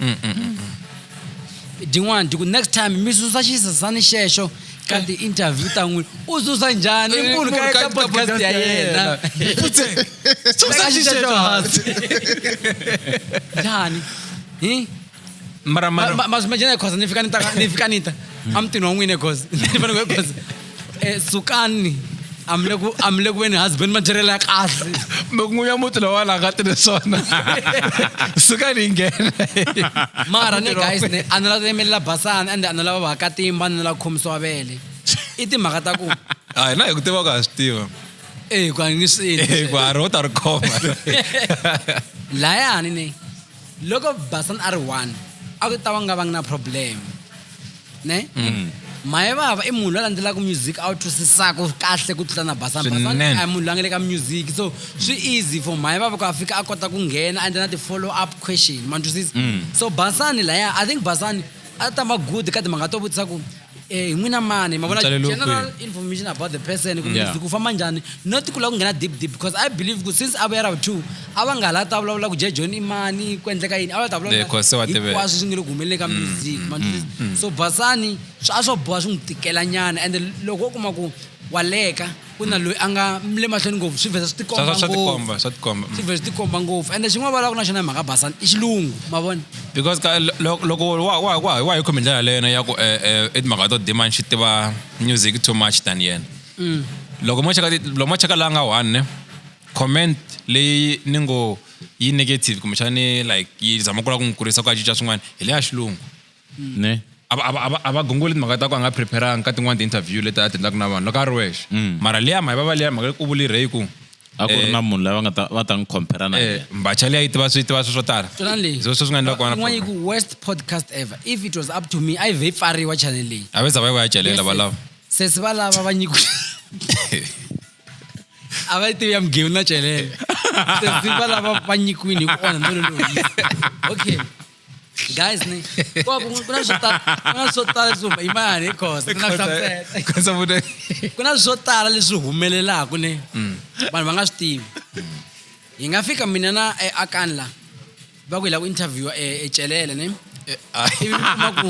[SPEAKER 1] mm, mm, mm, mm. din'wana diku next time mi susa xisasani xexo ka eh. ti-interview ta n'wina u susa njhani eh, munhu ka eka podcast ya yena
[SPEAKER 2] njhani
[SPEAKER 1] hi
[SPEAKER 2] mara mara mas imagina
[SPEAKER 1] khosa ni fika ni ta ni fika ni ta a mutini wa n'wina khosa ni fanele khosa Eh, sukani I'm le ku I'm le ku veni husband matirhelo ya kahle n'winyi wa muti
[SPEAKER 2] lowa la nga tirhi swona suka ni nghena mara
[SPEAKER 1] ne guys ne a ni la yemelela basana ende a ni lava vakatimba ni la khomisiwa vele i timhaka ta ku a hi na hi ku tiva ku
[SPEAKER 2] ha swi tiva eyi ku a ni
[SPEAKER 1] swi ku ha ri wo ta ri khoma
[SPEAKER 2] layani
[SPEAKER 1] ne loko basan a ri one a ku ta va nga vangi na problem ne mm. maye vava i munhu loyi a landzelaka music a wu twisisaka kahle ku tlula na basan basan a munhu loyi a nga le ka music so swi easy for maye vava ku a fika a kota ku nghena a endla na ti-follow up question ma twisisa mm. so basani laya i think basani a ta ma good ka timhaka to vutisa ku eh, hi n'wina mani mavona Mutsalelo general kwihi? information about the person kumbe Yeah. yeah. ku famba njhani not ku lava ku nghena deep deep because i believe ku since a vuya ra two a va nga ha la ta vulavula ku jhe john i mani ku endleka yini a va ta Yeah, 'cause se wa tiveka. hinkwaswo swi nge le ku humeleleni ka music ma twisisa? so basani swa a swo boha swi n'wi tikelanyana ende loko u kuma ku wa leka ku na loyi a nga le mahlweni ngopfu swi vheta swi tikomba swa tikomba swa tikomba swi vheta swi tikomba ngopfu ende xin'wana va lava ku na xona hi mhaka basana i xilungu ma vona because ka
[SPEAKER 2] loko wa wa wa wa hi khomi ndlela leyena ya ku eh, eh, i timhaka to demand xi tiva music too much than yena mm. loko mo cheka loko mo cheka la nga one ne comment leyi ni ngo yi negative kumbexani like yi zama ku la ku n'wi kurisa ku a cinca swin'wana hi leya xilungu ne
[SPEAKER 4] a va- a va- a va- a va
[SPEAKER 2] gongoli timhaka ta ku a nga preparanga ka tin'wana ti-interview leti a ti endlaka na vanhu loko a ri wexe mara liya mayi va va liya mhaka leyi ku vulirhe hi ku a ku ri eh, na munhu
[SPEAKER 4] lava nga ta va ta n'wi compare na eh, yena mbacha liya yi tiva swi tiva
[SPEAKER 2] swi swo tala Twana leyi. Hi swona swi nga endla ku va na Yin'wana yi problem. ku worst podcast
[SPEAKER 1] ever if it was up to me a yi vhe yi pfariwa channel leyi a ve za va yi va ya celela
[SPEAKER 2] valava sesi va lava va
[SPEAKER 1] nyiku a va yi tivi ya mugeu na celela sesi va lava va nyikiwini hi ku onha nolo loyi okay Guys, ne? Kwa kuna kuna swo tala kuna swo tala leswi huma- imani hi khosa ndzi nga hlamusela. Khosa vuta. ku na swo tala leswi humelelaka ne vanhu va nga swi tivi hi nga fika mina na eh, akani la va ku hi la ku interviewa ecelele ne ivi mi kuma ku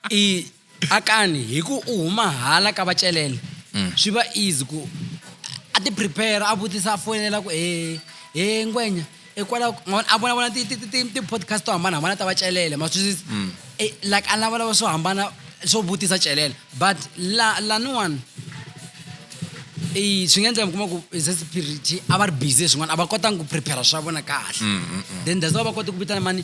[SPEAKER 1] i Akani hi ku u huma hala ka vacelele mm. swi va easy ku a ti prepare a vutisa a foyinela ku he he ngwenya hikwalaho a vonavona ti-podcast to hambanahambana ta vacelele ma swisisa mm. eh, like a lavalava swo hambana swo vutisa celele but la laniwani swi nga endleka mi kuma ku se spirit a va ri busy swin'wana a va kotanga ku prepare swa vona kahle mm, mm, then that's why va kota ku vitana mani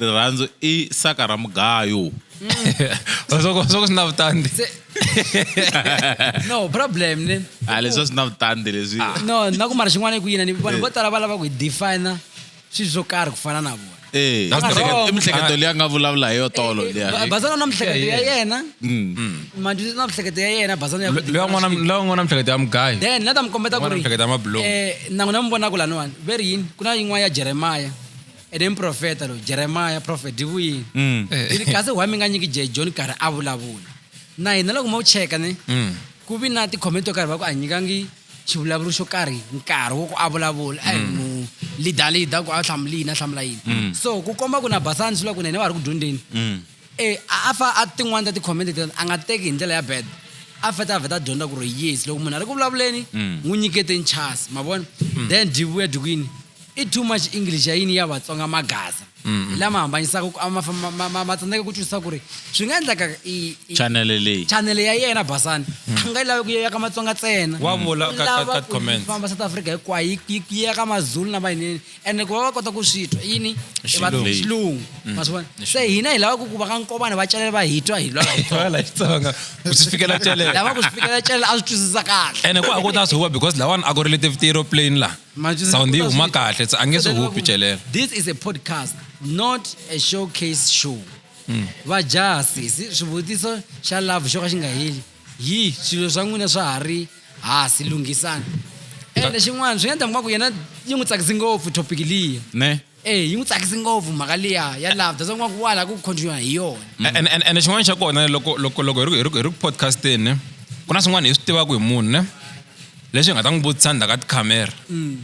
[SPEAKER 4] rirhandzu i saka ra mugayo
[SPEAKER 2] soko soko swi na vutandi Se-
[SPEAKER 1] no problem ne a Ah, leswi a swi na vutandi
[SPEAKER 4] leswi Ah. no na ku mara xin'wana
[SPEAKER 1] i ku yina ni vanhu vo tala va lava ku hi defina swilo swo karhi ku fana na vona Eh, That's mihleketo- wrong. i
[SPEAKER 4] mihleketo leyi a nga vulavula hi yo tolo Eh, liya. Ba- bazana na mihleketo
[SPEAKER 1] ya yena manjutisa na mihleketo ya yena bazana ya ku loyi define swilo. loyi n'wana
[SPEAKER 2] mihleketo ya mugayo then la ta mi kombeta ku N'wana ri
[SPEAKER 1] mihleketo ya mabulomu. eh,
[SPEAKER 2] nangu na mi vonaka
[SPEAKER 1] laniwani ve ri yini ku na yin'wana ya jeremaya ene muprofeta lowu jeremiya profet yi vuyini mm. yi ri kasi why mi nga nyiki je john karhi a vulavula na hina loko ma wu cheka ni mm. ku vi na tikhomenti to karhi va ku a nyikangi xivulavuri xo karhi nkarhi wo ku a vulavula a hi mm. mu leader leader ku a hlamula yini a hlamula yini so ku komba ku na basani swi vula ku na hina va ha ri ku dyondzeni E a a fa a tin'wana ta ti-comment leti a nga teki hi ndlela ya bad a fete a vheta a dyondza ku ri yes loko munhu a ri ku vulavuleni Mm. n'wi nyikete nchasi ma vona Mm. then dyi vuya dyi ku yini i too much english ya yini ya vatsonga magaza Mm. hi lama hambanyisaka ku a ma fa- ma- ma- ma- ma tsandzeka ku twisisa ku ri swi nga endlaka i- i- chanele leyi chanele ya yena basani a nga yi lavi ku ya ka matsonga ntsena Wa vula ka- ka- Lava ka
[SPEAKER 2] ku comment. famba south africa hinkwayo
[SPEAKER 1] yi- yi yi ya ka mazulu na mayinini ene ku va va kota ku swi twa yini I va- Xilungu. xilungu Mm. ma swi vona Ni se hina hi lava ku ku va ka nkovane va celele va hi twa hi lwa hi tona. Wala Xitsonga. Ku
[SPEAKER 2] swi fikela celele. lava ku swi fikela celele a
[SPEAKER 1] swi twisisa kahle ene ku a ku ta swi huwa
[SPEAKER 2] because lawani a ku ri leti tiro plane la Ma twisisa sound yi ku ta huma swi- kahle se a nge swi hupi celela this is a podcast
[SPEAKER 1] not a showcase show va jaha sesi swivutiso xa love xo ka xi nga heli hi swilo swa n'wina swa ha ri hasi lunghisana ende xin'wana swi nga endla ngwaku yena yi n'wi tsakisi ngopfu topic liya ne e yi n'wi
[SPEAKER 4] tsakisi
[SPEAKER 1] ngopfu mhaka liya ya love that's ngwaku wa la ku continue hi yona and and and xin'wana xa
[SPEAKER 2] kona loko loko loko hi ri hi ri hi ri podcasteni ne ku na swin'wana hi swi tivaka hi munhu ne leswi hi nga ta n'wi vutisa ndzhaku ka tikhamera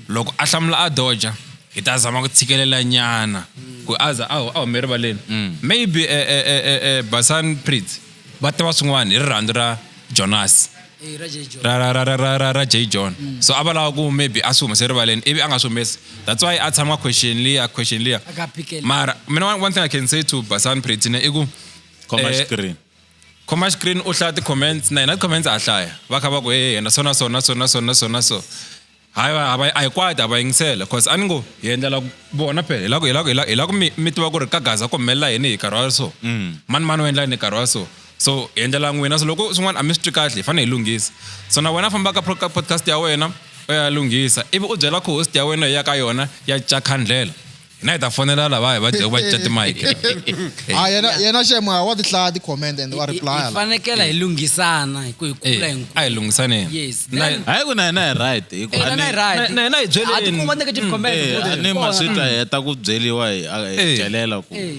[SPEAKER 2] loko a hlamula a doja hi ta zama ku tshikelela nyana ku a za a hu- a hume rivaleni maybe eh, eh, eh, eh, eh, basan pritz va tiva swin'wana hi rirhandzu ra jonasi ra ra ra ra ra ra ra j john mm. so a va lava ku maybe a swi humese rivaleni ivi a nga swi humesi that's why a tshama question liya question liya mara mina one thing i can say to basan pretine i ku khoma eh, screen khoma screen u hlaya ti-comments na yena ti-comments a hlaya va kha va ku e yena so na so na so na so na so na so hayi va a va a hi kwati a va yingisela cause a ni ngo hi endlela ku vona phela hi la ku hi la ku hi la hi la ku mi mi tiva ku ri ka gaza ku humelela yini hi nkarhi wa so Mm. mani mani u endla yini hi nkarhi wa so so hi endlela n'wina so loko swin'wana a mi swi twi kahle hi fanele hi lunghisa so na wena famba ka pro- ka podcast ya wena u ya lunghisa ivi u byela co-host ya wena hi ya ka yona ya cakhandlela hina hi ta fonela lava hi va dyaku va cinca timike Ah, yena
[SPEAKER 5] yena shame ah, wa ti hlaya ti comment and wa reply hi la. fanekela hi
[SPEAKER 1] lunghisana hi ku hi kula hi a hi lunghisaneni
[SPEAKER 2] Yes. Na- Then- hayi ku
[SPEAKER 1] na hina hi
[SPEAKER 4] right hi ku- Eh, na- na hi right. na- na- na hi byeleni.
[SPEAKER 2] A ti kuma negative comment.
[SPEAKER 1] Eh, Good. a ni Kona. maswita hi heta
[SPEAKER 4] ku byeliwa hi a- hi Eh. celela ku Eh.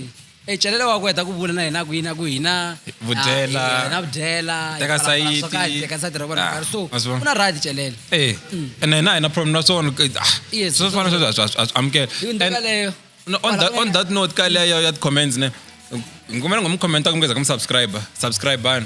[SPEAKER 4] e celele wa ku
[SPEAKER 1] heta ku vula na hina ku yini a ku hina Vudyela. ah, hina vudyela hi Teka fana- fana- swo
[SPEAKER 2] karhi, sayiti. teka sayiti ra vona Ah, karhi so wa
[SPEAKER 1] swi vona? ku na right celele Eh, ene hina
[SPEAKER 2] hi na problem na swona ke- ah, Mm. Yes, swo fana
[SPEAKER 1] sweswo a swi- a swi- a
[SPEAKER 2] swi amukela hi ndlela And- leyo No, on that on that note ka leyo ya comments ne ngumela ngomucommenta kumkeza kumsubscriber subscribani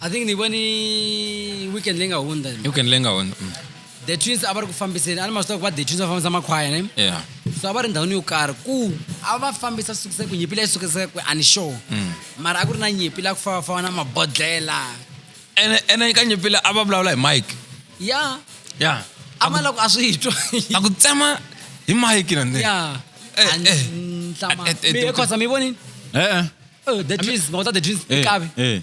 [SPEAKER 1] i think ni voni weekend leyi nga hundza ni. weekend leyi nga hundza mm. the twins a va ri ku fambiseni a ni ma swi tiva ku va the twins va fambisa makhwaya ne yeah so a va ri ndhawini yo karhi ku a va fambisa swi sukisa ku nyimpi leyi sukisaka ku ani sure mm. mara a ku ri na nyimpi la ku fambafamba na mabodlela ene
[SPEAKER 2] ene ka nyimpi leyi a va vulavula hi mike ya ya a
[SPEAKER 1] ma la ku a swi twa a ku tsema
[SPEAKER 2] hi mike na ndzeni ya Eh, eh. Eh,
[SPEAKER 1] eh, eh, khosa mi vonini eh eh Oh, the twins mawuta the twins Eh, ikabi eh.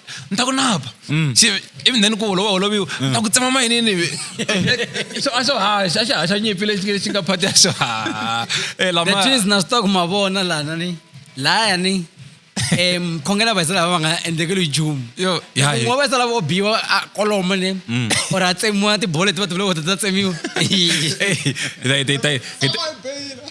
[SPEAKER 2] ni ta ku napa mm. ivi then ku holova holoviwa ni mm. ta ku tsema mayinini a swo haxa a xi haxa nyimpi lexi xi nga phati ya swo
[SPEAKER 1] halatwis eh, na swi ta ku ma vona lana ni laya ni um khongela vaisa lava va nga endlekeli jumu un'we vaisa lava o biwa a koloma ni mm. or a tsemiwa tibolo leti va tivuloko ta ta tsemiwa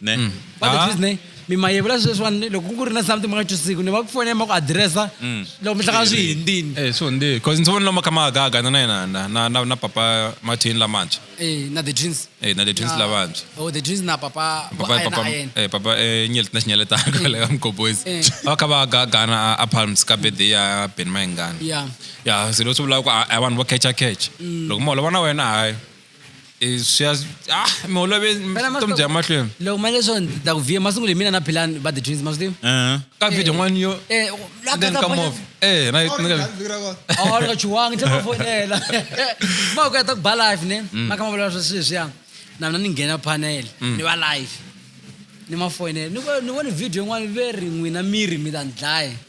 [SPEAKER 1] ne mm.
[SPEAKER 4] but the ah. truth ne
[SPEAKER 1] mi ma yevula sweswi vanhu loko ku ri na something ma nga twisisiku ni va ku fonela ma ku adiresa mm. loko mi hlangana swi hindini eh, swo ndi bcause ndzi voni
[SPEAKER 2] lama kha ma agaga na na yena na na na na papa martin lamantshwa eh na the twins
[SPEAKER 1] eh na the twins lavantshwa
[SPEAKER 2] oh the twins na papa
[SPEAKER 1] papa papa eh papa
[SPEAKER 2] eh nyel na nyel ta ka le am koboys va kha va agaga na a palms ka birthday ya ben maingana yeah yeah silo swi vula ku i want to catch a catch mm. loko mo lo vona wena hayi Eh, swi ya ah mi olove Phela vutomi masiku- bya mahlweni loko mali leswo ni ta
[SPEAKER 1] ku vhiya masiku leyi mina na philani va the twins masiku Uh-huh. ka video n'wani
[SPEAKER 2] yo Eh, u- la then kata ka phone- movie eh na Or ni nga vi- vira ko- a
[SPEAKER 1] wu nga chuwangi se va fonela ma ku ya ta ku ba life ne ma kha ma vulavula swa swilo leswiya na mina ni nghena panel ni va life ni ma fonela ni vo- ni vone video yin'wana ve ri n'wina miri mi ta ni dlaya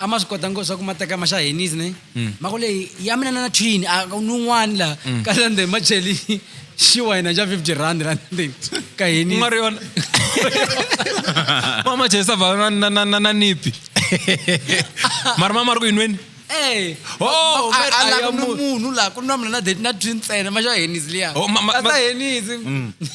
[SPEAKER 1] a ma swi kota ngo swa ku ma teka ma xa henisi ne mm. ma ku leyi ya mina na twini a ku nun'wani laha mm. ka sande ma cheli xiwa hina xa fifty rand ra ndzeni ka henisi nga ri yona
[SPEAKER 2] ma ma chesa va na na na na nipi mara ma ma ri ku yinweni eh. oh,
[SPEAKER 1] munhu laha ku nwa mina na date na twini ntsena ma xa henisi liya oh, ma ma ma henisi mm.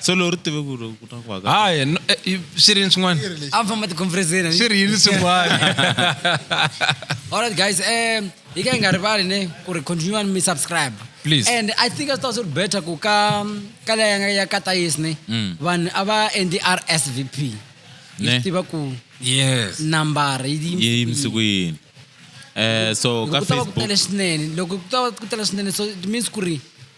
[SPEAKER 4] so loko ri tive ku ri ku ta ku haka hayi no- eh, i-
[SPEAKER 2] swi ri yini swin'wana a famba tikhomfereseni
[SPEAKER 1] swi ri yini swin'wana Alright guys, um, hi ka hi nga rivali ne ku ri continue and mi subscribe. Please. And I think
[SPEAKER 2] a swi ta swi ri
[SPEAKER 1] better ku ka ka leya nga ya ka Tayis ne Mm. vanhu a va endi RSVP. Hi Ne. swi tiva ku yes
[SPEAKER 2] number yi yi
[SPEAKER 1] yi yimisi ku
[SPEAKER 4] yini um so Loko ka ku ta va ku facebook tele swinene loko ku ta
[SPEAKER 1] va ku tele swinene so it means ku ri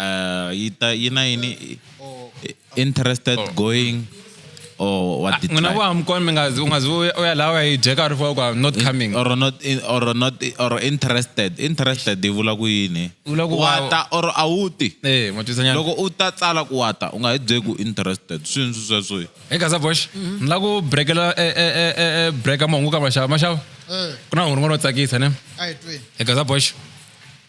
[SPEAKER 4] Uh, yi ta yi na yini interested oh. going or what did mina wa mkon mi nga
[SPEAKER 2] unga zu oya lawa yi jeka ri fo kwa not coming or not in, or not
[SPEAKER 4] or interested interested di vula ku yini wata or awuti eh matwisanya loko
[SPEAKER 2] u ta tsala
[SPEAKER 4] ku wata u nga hi bye ku interested swini swi sweswo hey kaza bosh mhm.
[SPEAKER 2] ni la ku breakela e e e e, e breaka mahungu ka mashava mashava eh. ku na hungu ro tsakisa ne hey kaza bosh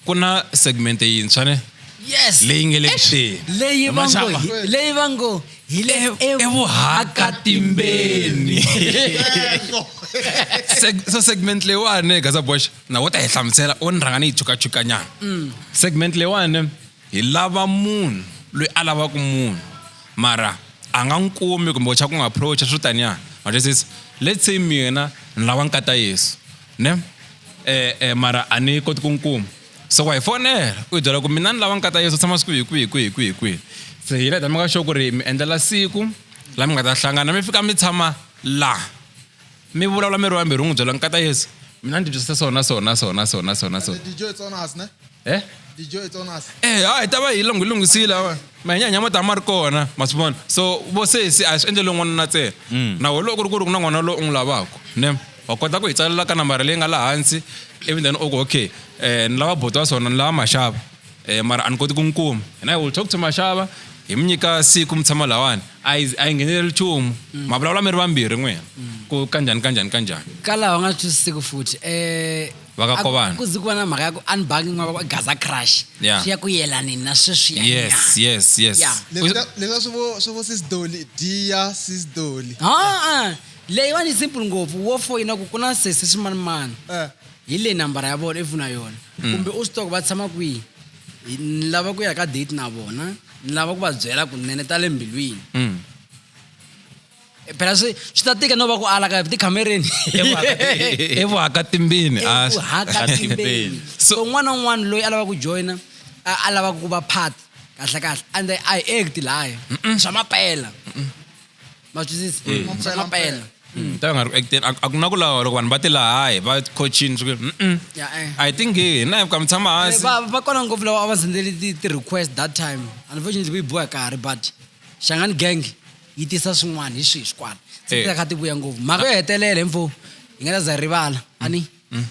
[SPEAKER 2] ku na segmente yintshwa ne yes leyi nge le
[SPEAKER 1] kuxeni
[SPEAKER 2] leyi va ngo hi-
[SPEAKER 1] leyi va ngo hi le evuhakatimbeni
[SPEAKER 2] Seg- so segment leyiwani gaza bosh na wo ta hi hlamusela o ni rhanga ni yi chukachukanyana segment leyiwani hi lava munhu loyi a lavaka munhu mara a nga n'wi kumi kumbe wacha ku n'wi approacha swo taniya majesisi let's say mina ni lava nkata yesu ne eh, eh, mara a ni koti ku n'wi kuma so wa hi fonela u hi byela ku mina ni lava ni kata yesu tshama siku hi kwihi kwihi kwihi kwihi se hi leta mi ka xo ku ri mi endlela siku la mi nga ta hlangana mi fika mi tshama la mi vulavula mi ri wambirhi u n'wi byela ni kata yesu mina ni tibyisisa sona sona sona sona sona
[SPEAKER 5] sona eh dijo e tsona se eh ha hi ta va hi lungu
[SPEAKER 2] lunghisile manyanya ma ta ma ri kona ma swi vona so vo sesi a swi endlele n'wanuna ntsena mm. na wena loko ku ri ku ri ku na n'wana loyi u n'wi lavaka ne wa kota ku hi tsalela ka nambara leyi nga laha hansi ivi then u ku okay um ni lava boto wa swona ni lava maxava um mara a ni koti ku n'wi kuma and i will talk to maxava hi mi nyika siku mi tshama lawani a yi a yi ngheneleli nchumu mm. ma vulavula mi ri vambirhi n'wina mm. ku kanjhani kanjhani kanjhani ka laha u
[SPEAKER 1] nga twisisiku futhi um vakakovana
[SPEAKER 2] ku zi ku va na mhaka
[SPEAKER 1] ya ku unbugging n'wana va gaza crush yeah. swi ya ku yelani na sweswiya yes yes yes yeah.
[SPEAKER 5] leswa swi vo swi vo sis doli dia sis doli aa
[SPEAKER 1] leyiwani simple ngopfu wo foyina ku ku na sesi swimanimani eh. hi leyi nambara ya vona ivuna yona mm. kumbe u swi toko va tshama kwihi ni lava ku ya ka date na vona ni lava ku va byela kunene ta le mbilwini mm. Eh, phela swi swi ta tika no va ku ala ka tikhamereni evuhaka timbini ah, evuhaka
[SPEAKER 2] timbeni
[SPEAKER 1] so un'wana na un'wana loyi a lava ku joyina a lava ku va part kahle kahle and a hi act laya swa mapela ma twisisa mm. swa mapela mm. ta nga ri
[SPEAKER 2] acting a ku na ku lawa loko vanhu va ti lahayi va coachini swi eh. a hi tinghihi na ka mi tshama eh, hansi va kona ngopfu lava a
[SPEAKER 1] va sendeli ti-request that time unfortunately ku yi biwa karhi but xangani gang yi tisa swin'wana hi swihi swikwala se Eh. ti ta kha ti vuya ngopfu mhaka yo hetelela info hi nga ta za hi rivala a ni um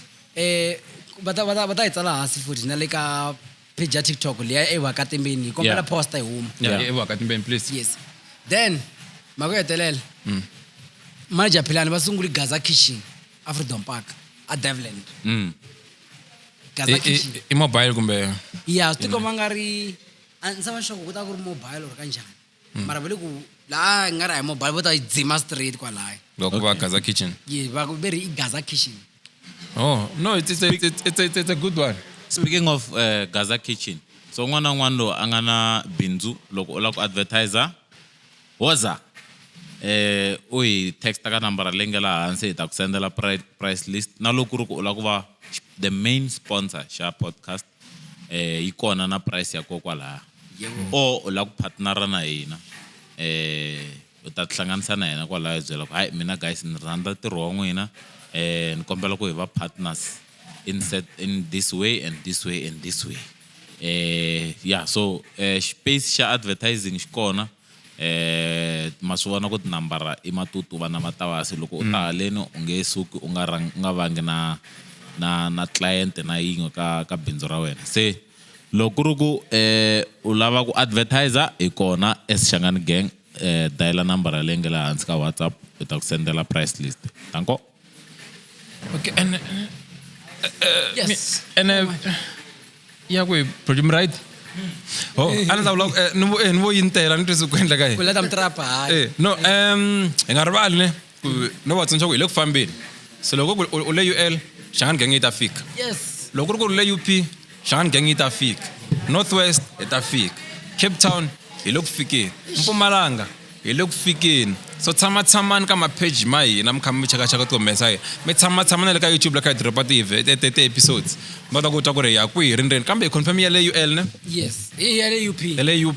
[SPEAKER 1] va ta- va ta va ta yi tsala hansi futhi na le ka page ya tiktok leya evakatimbeni hi kombela Yeah. posta yi huma Yeah. Yeah. ewa ka timbeni please
[SPEAKER 2] yes then
[SPEAKER 1] mhaka yo hetelela Mm. manager philani va sunguli gaza kitchen afreedom park a devland Mm. gaza I- i- kitchen i mobile kumbe
[SPEAKER 2] ya swi tikomba nga
[SPEAKER 1] ri a ndzi sava xoko ku ta ku ri mobile or ka njhani Mm. mara vele ku laha nga ri hi mobile vo ta yi dzima straight kwalaya va ku va gaza kitchen
[SPEAKER 2] ye va ku ve ri i
[SPEAKER 1] gaza kitchen oh
[SPEAKER 2] no it's, it's, a- it's, it's, it's, it's a good one speaking of uh,
[SPEAKER 4] gaza kitchen so un'wana na un'wana loyi a nga na bindzu loko u lava ku advertiser woza eh u hi texta ka nambara leyi nga laha hansi hi ta ku sendela pri- price list na loko ku ri ku u lava ku va the main sponsor xa podcast eh yi kona na price ya kokwalaha o u lava ku partnera na hina eh u ta tihlanganisa na hina kwalaho hi byela ku hayi mina guys ni rhandza ntirho wa n'wina eh ni kombela ku hi va partners in set in this way and this way and this way eh ya so eh space xa advertising xi kona ma swi vona ku tinambara i matutuva na matavasi loko u ta mm. haleni u nge suki u nga u nga vangi na na na client na yin'we ka ka bindzu ra wena se loko ku ri ku um u lava ku advertiser hi kona as xangani gang um dayila nambara leyi nge le hansi ka whatsapp u ta ku sendela price list danko
[SPEAKER 2] Okay, and, uh, uh, yes. Me,
[SPEAKER 1] and uh,
[SPEAKER 2] yeah, we pretty right. Oh, ana ta vula eh, ni eh, vo yintela ni twise ku endla ka yena eh,
[SPEAKER 1] no um
[SPEAKER 2] hi nga rivali ne ku no va tsundzuxa ku hi le ku fambeni se loko u le ul xangani genge yi ta fika loko ku ri ku ri
[SPEAKER 1] le up
[SPEAKER 2] Shangang yi ta fika. North West yi ta fika. Cape Town hi le ku fikeni. Mpumalanga hi le ku fikeni. So tshama tshamani ka ma page ma hina mi kha mi cheka cheka ti humesa hina. Mi tshama tshama na le ka YouTube la kha hi drop ti ti ti episodes. Mi kota ku twa ku ri hi ya kwihi hi ri ndzeni kambe hi confirm ya le UL ne? Yes. Hi ya le
[SPEAKER 1] UP. Ya le UP.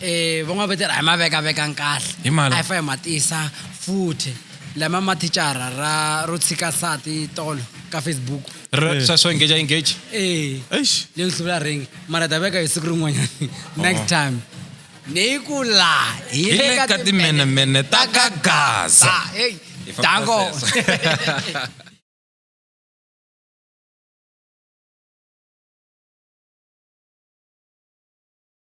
[SPEAKER 1] e van'wana va tirha hi ma vekavekang kahle Hi mala. a hi fa hi ma tisa futhi lama ma thicara ra ro tshika sati tolo ka facebook Re- swa swo engage
[SPEAKER 2] engage ee Eish.
[SPEAKER 1] leyi hluvula ringi mara ta veka hi siku rin'wanyana next time ni ku la hi Hi le ka timenemene ta
[SPEAKER 2] ka Gaza. Ah, hey, Hi
[SPEAKER 1] famba
[SPEAKER 2] dango sweswo.